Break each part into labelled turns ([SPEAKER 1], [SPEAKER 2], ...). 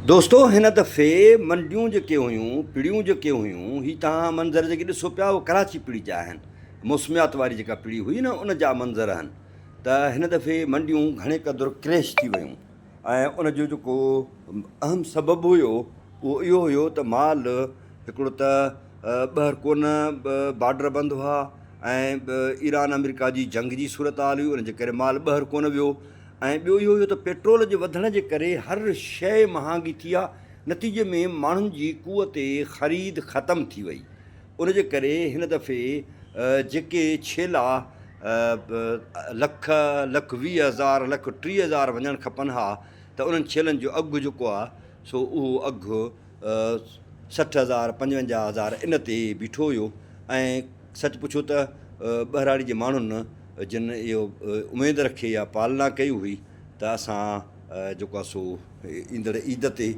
[SPEAKER 1] دوستو هن دفعي منڊيون جيڪي هيون پڙيون جيڪي هيون هي تهان منظر جيڪي ڏسو پيا اهي ڪراچي پڙي جا آهن موسميات واري جيڪا پڙي هئي نه ان جا منظر هن ته هن دفعي منڊيون گهڻي قدر ڪريش ٿي ويون ۽ ان جو جيڪو اهم سبب هيو اهو اهو هيو ته مال هڪڙو ته ٻهر ڪونه بارڊر بند هئا ۽ ايران آمريڪا جي جنگ جي صورتحال هئي ان جي ڪري مال ٻهر ڪونه ويو ۽ ٻيو اهو ته پيٽرول جي وڌڻ جي ڪري هر شيء مهانگي ٿي آهي، نتيجي ۾ ماڻهن جي قوت خريد ختم ٿي وئي، ان جي ڪري هن دفعي جيڪي ڇيلا لک، لک ويهه هزار، لک ٽيهه هزار وڃڻ کپن ها ته انهن ڇيلن جو اگهه جيڪو آهي سو اهو اگهه سٺ هزار، پنجونجاهه هزار ان تي بيٺو هيو ۽ سچ پڇو ته ٻهراڙي جي ماڻهن جن اهو اميد رکي يا پالنا ڪئي هئي ته اسان جيڪو آهي سو ايندڙ عيد تي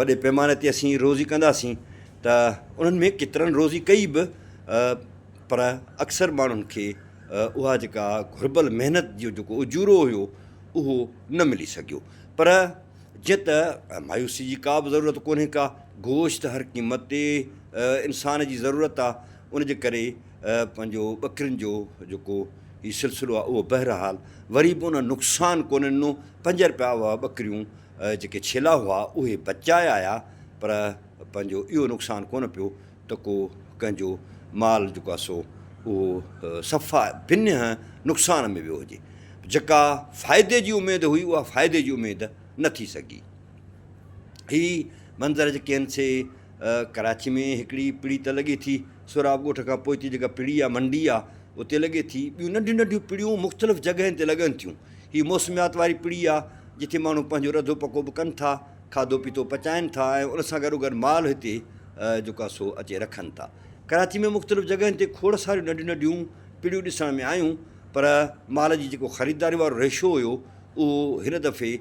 [SPEAKER 1] وڏي پيماني تي اسين روزي ڪنداسين ته انهن ۾ ڪيترن روزي ڪئي به پر اڪثر ماڻهن کي اها جيڪا گهربل محنت جو جيڪو اجورو هيو اهو نه ملي سگهيو پر جيئن ته مايوسي جي ڪا به ضرورت ڪونهي ڪا گوشت هر قيمت تي انسان جي ضرورت آهي ان جي ڪري پنهنجو ٻڪرين جو جيڪو هي سلسلو آهي اهو بهرحال وري به ان نقصان ڪونه ڏنو، پنج رپيا اهي ٻڪريون جيڪي ڇيلا هئا اهي بچائي آيا پر پنهنجو اهو نقصان ڪونه پيو ته ڪو ڪنهن جو مال جيڪو آهي سو اهو صفا بنهه نقصان ۾ ويو هجي. جيڪا فائدي جي اميد هئي اها فائدي جي اميد نه ٿي سگهي. هي منظر جيڪي آهن سي ڪراچي ۾ هڪڙي پڙي ته لڳي ٿي، سهراب ڳوٺ کان پوئتي جيڪا پڙي يا منڊي آ، اتي لڳي ٿي. ٻيون ننڍيون ننڍيون پڙيون مختلف جڳهين تي لڳن ٿيون. هي موسميات واري پڙي آ، جتي ماڻهو پنهنجو رڌو پڪو به ڪن ٿا، کاڌو پيتو پچائين ٿا ۽ ان سان گڏوگڏ مال هتي جيڪو آ سو اچي رکن ٿا. ڪراچي ۾ مختلف جڳهين تي کوڙ ساريون ننڍيون ننڍيون پڙيون ڏسڻ ۾ آيون، پر مال جي جيڪو خريداري وارو ريشو هيو، اهو هن دفعي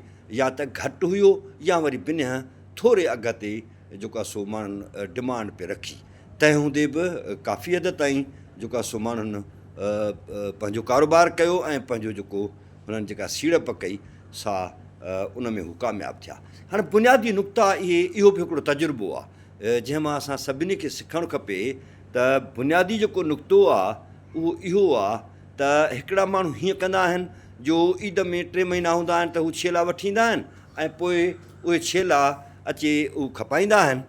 [SPEAKER 1] يا ته گهٽ هيو يا وري بنهه ٿوري اگهه تي جيڪا سو ماڻهن ڊمانڊ پئي رکي تنهن هوندي به ڪافي حد تائين جيڪا سو ماڻهن پنهنجو ڪاروبار ڪيو ۽ پنهنجو جيڪو هنن جيڪا سيڙپ ڪئي سا ان ۾ هو ڪامياب ٿيا هاڻي بنيادي نقطه اهي اهو به هڪڙو تجربو آ جنهن مان اسان سڀني کي سکڻ کپي ته بنيادي جيڪو نقطو آ اهو اهو آ ته هڪڙا ماڻهو هيئن ڪندا آهن جو عيد ۾ ٽي مهينا هوندا آهن ته هو ڇيلا وٺي ايندا آهن ۽ پوء اهي ڇيلا اچي اهو کپائيندا آهن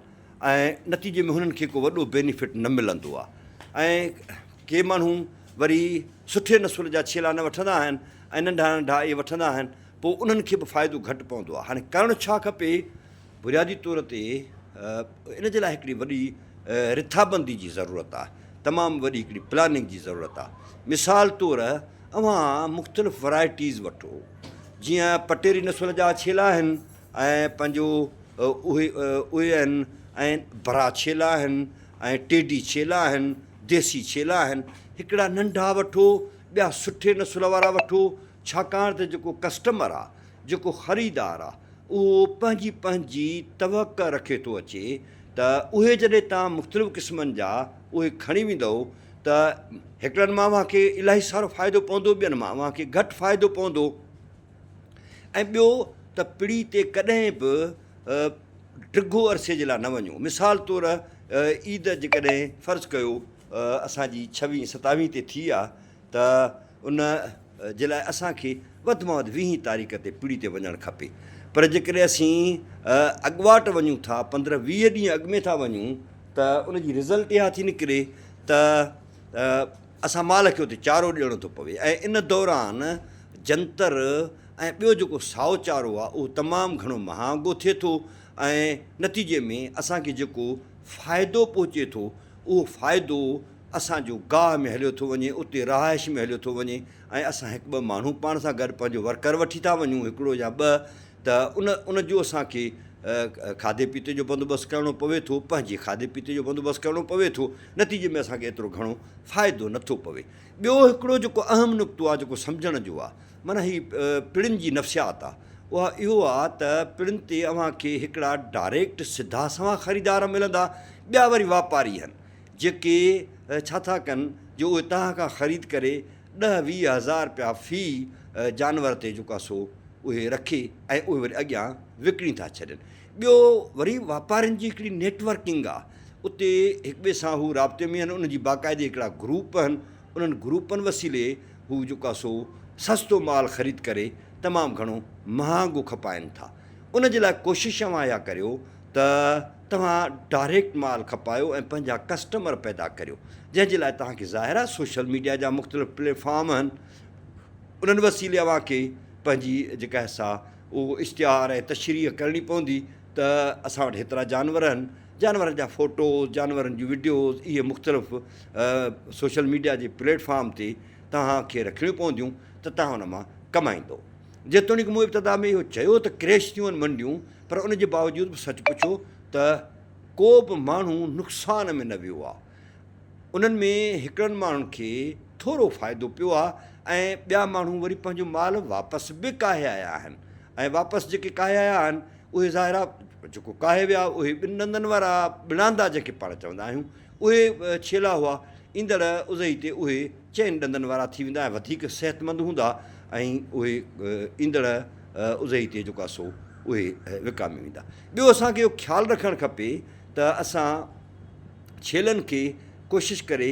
[SPEAKER 1] ۽ نتيجي ۾ هنن کي ڪو وڏو بينيفٽ نه ملندو آهي ۽ ڪي ماڻهو وري سٺي نسل جا ڇيلا نه وٺندا آهن ۽ ننڍا ننڍا اهي وٺندا آهن پوء انهن کي به فائدو گهٽ پوندو آهي هاڻي ڪرڻ ڇا کپي؟ بنيادي طور تي ان جي لاء هڪڙي وڏي رٿابندي جي ضرورت آهي تمام وڏي هڪڙي پلاننگ جي ضرورت آهي مثال طور اوهان مختلف ورايٽيز وٺو جيئن پٽيري نسل جا ڇيلا آهن ۽ پنهنجو اهي اهي آهن ۽ برا ڇيلا آهن ۽ ٽيڊي ڇيلا آهن ديسي ڇيلا آهن هڪڙا ننڍا وٺو ٻيا سٺي نسل وارا وٺو ڇاڪاڻ ته جيڪو ڪسٽمر آهي جيڪو خريدار آهي اهو پنهنجي پنهنجي توقع رکي ٿو اچي ته اهي جڏهن تان مختلف قسمن جا اهي کڻي ويندو ته هڪڙن مان اوهان کي الاهي سارو فائدو پوندو ٻين مان اوهان کي گهٽ فائدو پوندو ۽ ٻيو ته پڙي تي ڪڏهن به ڊگهو عرصي جي لاء نه وڃو مثال طور عيد جيڪڏهن فرض ڪيو اسان جي ڇويهين ستاويهين تي ٿي آ ته ان جي لاء اسان کي وڌ مان وڌ ويهين تاريخ تي پڙي تي وڃڻ کپي پر جيڪڏهن اسين اڳواٽ وڃون ٿا پندرهن ويهه ڏينهن اڳ ۾ ٿا وڃون ته ان جي رزلٽ اها ٿي نڪري ته اسان مال کي اتي چارو ڏيڻو ٿو پوي ۽ ان دوران جنتر ۽ ٻيو جيڪو سائو چارو آهي اهو تمام گهڻو مهانگو ٿئي ٿو ۽ نتيجي ۾ اسان کي جيڪو فائدو پهچي ٿو اهو فائدو اسان جو گاهه ۾ هليو ٿو وڃي، اتي رهائش ۾ هليو ٿو وڃي ۽ اسان هڪ ٻه ماڻهو پاڻ سان گڏ پنهنجو ورڪر وٺي ٿا وڃون هڪڙو يا ٻه ته ان ان جو اسان کي کاڌي پيتي جو بندوبست ڪرڻو پوي ٿو پنهنجي کاڌي پيتي جو بندوبست ڪرڻو پوي ٿو نتيجي ۾ اسان کي ايترو گهڻو فائدو نه ٿو پوي ٻيو هڪڙو جيڪو اهم نقطو آهي جيڪو سمجهڻ جو آهي معنيٰ هي پڙن جي نفسيات آهي اها اهو آهي ته پڙن تي اوهان کي هڪڙا ڊائريڪٽ سڌا سنوان خريدار ملندا ٻيا وري واپاري هن جيڪي ڇا ٿا ڪن جو اهي توهان کان خريد ڪري ڏهه ويهه هزار رپيا في جانور تي جيڪو آهي سو اهي رکي ۽ اهي وري اڳيان وڪڻي ٿا ڇڏين ٻيو وري واپارين جي هڪڙي نيٽ ورڪنگ آهي اتي هڪ ٻئي سان هو رابطي ۾ آهن انهن جي باقاعدي هڪڙا گروپ آهن انهن گروپن وسيلي هو جيڪو آهي سو سستو مال خريد ڪري تمام گهڻو مهانگو کپائين ٿا ان جي لاء ڪوشش اوهان اها ڪريو ته توهان ڊائريڪٽ مال کپايو ۽ پنهنجا ڪسٽمر پيدا ڪريو جنهن جي لاء توهان کي ظاهر آهي سوشل ميڊيا جا مختلف پليٽ فارم آهن انهن وسيلي اوهان کي پنهنجي جيڪا سا اهو اشتهار ۽ تشريح ڪرڻي پوندي ته اسان وٽ هيترا جانور آهن جانورن جا فوٽوز جانورن جون وڊيوز اهي مختلف سوشل ميڊيا جي پليٽ فارم تي توهان کي رکڻيون پونديون ته توهان ان مان ڪمائيندو جيتوڻيڪ مون ابتدا ۾ اهو چيو ته ڪريش ٿيون منڊيون پر ان جي باوجود به سچ پڇو ته ڪو به ماڻهو نقصان ۾ نه ويو آهي انهن ۾ هڪڙن ماڻهن کي ٿورو فائدو پيو آهي ۽ ٻيا ماڻهو وري پنهنجو مال واپس به ڪاهي آيا آهن ۽ واپس جيڪي ڪاهي آيا آهن اهي ظاهر آهي جيڪو ڪاهي ويا اهي ٻن ڏندن وارا ٻڻاندا جيڪي پاڻ چوندا آهيون اهي ڇيلا هئا ايندڙ ازهي تي اهي چئن ڏندن وارا ٿي ويندا ۽ وڌيڪ صحتمند هوندا ۽ اهي ايندڙ اضحي تي جيڪو سو اهي وڪامي ويندا. ٻيو اسان کي اهو خيال رکڻ کپي ته اسان ڇيلن کي ڪوشش ڪري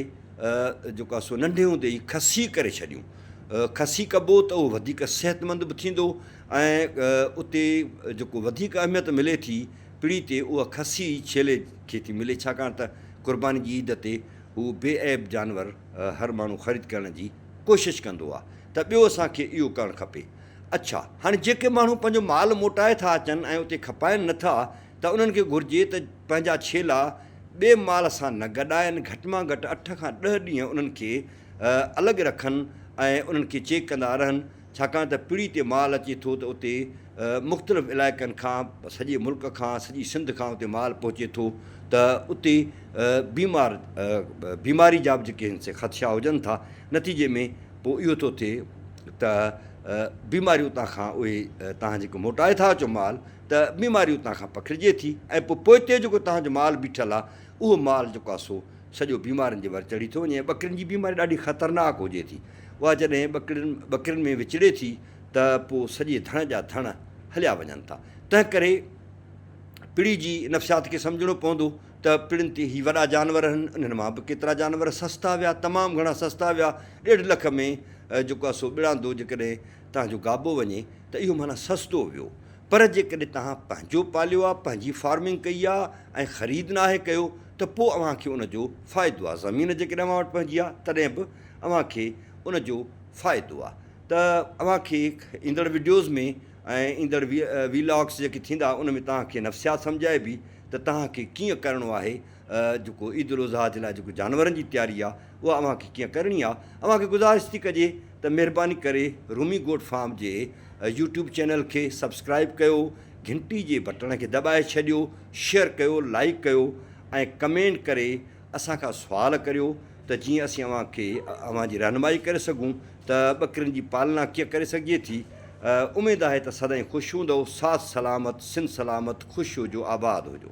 [SPEAKER 1] جيڪو سو ننڍي هوندي ئي کسي ڪري ڇڏيون. کسي ڪبو ته اهو وڌيڪ صحتمند به ٿيندو ۽ اتي جيڪو وڌيڪ اهميت ملي ٿي پڙي تي اها کسي ڇيلي کي ٿي ملي ڇاڪاڻ ته قرباني جي عيد تي هو بي عيب جانور هر ماڻهو خريد ڪرڻ جي ڪوشش ڪندو آ ته ٻيو اسان کي اهو ڪرڻ کپي. اڇا هاڻي جيڪي ماڻهو پنهنجو مال موٽائي ٿا اچن ۽ اتي کپائين نه ٿا ته انهن کي گهرجي ته پنهنجا ڇيلا ٻئي مال سان نه گڏائن گهٽ مان گهٽ اٺ کان ڏهه ڏينهن انهن کي الڳ رکن ۽ انهن کي چيڪ ڪندا رهن ڇاڪاڻ ته پڙي تي مال اچي ٿو ته اتي مختلف علائقن کان سڄي ملڪ کان سڄي سنڌ کان اتي مال پهچي ٿو ته اتي بيمار بيماري جا به جيڪي سي خدشا هجن ٿا نتيجي ۾ پوء اهو ٿو ٿئي ته بيماري اتان کان اهي تان جيڪو موٽائي ٿا اچو مال ته بيماري اتان کان پکڙجي ٿي ۽ پوء پوئتي جيڪو تنهنجو مال بيٺل آ اهو مال جيڪو آ سو سڄو بيمارين جي ور چڙهي ٿو وڃي ٻڪرين جي بيماري ڏاڍي خطرناڪ هجي ٿي اها جڏهن ٻڪرين ٻڪرين ۾ وچڙي ٿي ته پوء سڄي ڌڻ جا ڌڻ هليا وڃن ٿا. تنهنڪري پڙي جي نفسيات کي سمجهڻو پوندو ته پڙين تي هي وڏا جانور هن انهن مان به ڪيترا جانور سستا ويا تمام گهڻا سستا ويا ڏيڍ لک ۾ جيڪو آهي سو ٻڙاندو جيڪڏهن تنهن جو گابو وڃي ته اهو معنيٰ سستو ويو پر جيڪڏهن تنهن پنهنجو پاليو آهي پنهنجي فارمنگ ڪئي آهي ۽ خريد ناهي ڪيو ته پوء اوهان کي ان جو فائدو آهي زمين جيڪڏهن اوهان وٽ پنهنجي آهي تڏهن به اوهان کي ان جو فائدو آ ته اوهان کي ايندڙ وڊيوز ۾ ۽ ايندڙ وي لاگس جيڪي ٿيندا ان ۾ توهان کي نفسيات سمجهائبي ته توهان کي ڪيئن ڪرڻو آهي جيڪو عيد الاضحيٰ جي لاء جيڪو جانورن جي تياري آ اها اوهان کي ڪيئن ڪرڻي آ اوهان کي گذارش ٿي ڪجي ته مهرباني ڪري رومي گوٽ فارم جي يوٽيوب چينل کي سبسڪرائب ڪيو گهنٽي جي بٽڻ کي دٻائي ڇڏيو شيئر ڪيو لائيڪ ڪيو ۽ ڪمينٽ ڪري اسان کان سوال ڪريو ته جيئن اسين اوهان کي اوهان جي رهنمائي ڪري سگهون ته ٻڪرين جي پالنا ڪيئن ڪري سگهجي ٿي. اميد آهي ته سدائين خوش هوندؤ. ساٿ سلامت، سنڌ سلامت، خوش هجو، آباد هجو.